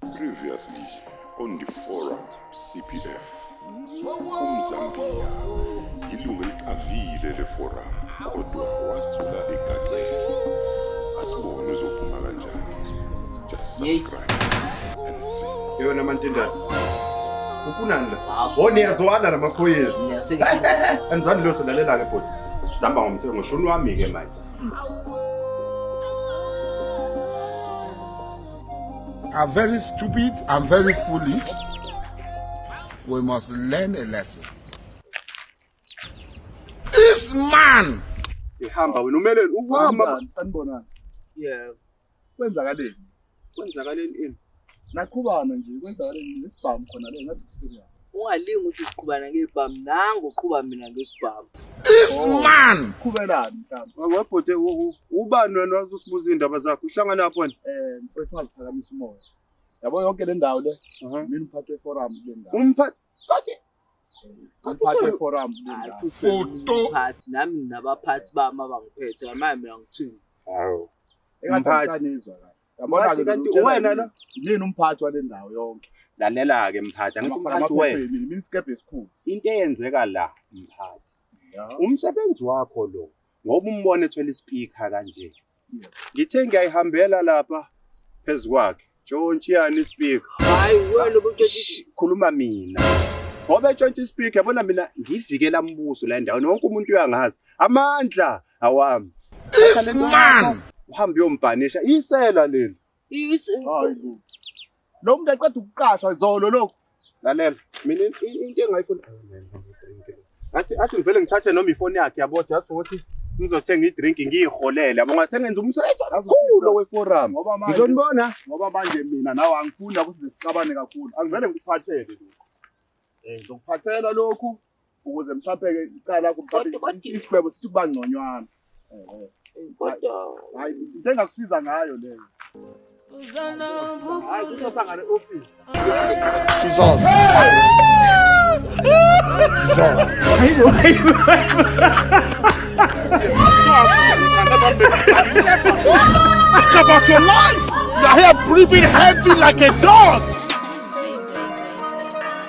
Previously on the forum CPF. UMzambiya yilungu eliqavile leforum kodwa wasithola egaxele. Asibone uzophuma kanjani. Just subscribe and see. Yona mantindana. Ufunani la? Hawo niyazwana namaphoyisa. Anizwani lutho lalela ke bhuti. Sihamba ngomthetho ngoshuni wami ke manje. I'm very stupid. I'm very foolish. We must learn a lesson. This man. Ihamba wena umele uhamba. Sanibonani. Yeah. Kwenzakaleni? Kwenzakaleni ini? Nakhubana nje kwenzakaleni nesibhamu khona le ngathi serious. ungalingi ukuthi siqhubana ngebhamu nangu uqhuba mina ngesibhamu this oh. man qhubelani mhlawumbe webhode ubani wena wazosibuza iy'ndaba zakho uhlangana lapho wena um mfethu ungaziphakamisa umoya yabo yonke le ndawo le uh-huh. mina umphathi weforum kule ndawo umphathi umphathi weforum kule ndawo foto phathi nami nginabaphathi bami abangiphethe manje mina ngithini hawu engathi anizwa kahle Ngathi kanti uwena lo? Yini umphathi wale ndawo yonke? Lalela-ke mphathi, angithi umphathi wena. Mina isikebhe esikhulu. Into eyenzeka la mphathi. Umsebenzi wakho lo ngoba umbone ethwele ispeaker kanje. Ngithe ngiyayihambela lapha phezu kwakhe. Jontshiyani ispeaker. Hayi wena ubutshela khuluma mina. Ngoba etshontsha ispeaker yabona mina ngivikela umbuso la endaweni wonke umuntu uyangazi. Amandla awami This man uhambe uyombhanisha isela leli hayi bo. Lo muntu aqeda ukuqashwa izolo lokhu. lalela mina in- in- into engayifuni athi athi ngivele ngithathe noma ifoni yakhe yabo just ukuthi ngizothenga idrink ngiyiholele yabo ngase ngenza umsebenzi kakhulu oweforum Ngoba manje ngizonibona ngoba manje mina nawe angifuni ukuthi sixabane kakhulu. Angivele ngikuphathele lokhu. Eh ngizokuphathela lokhu ukuze mhlawumbe-ke icala isigwebo sithi kuba ngconywana kodwa hayi into engakusiza ngayo leyo hayi kuzosangane ofisi izoza izoza Think about your life. You're here breathing heavy like a dog.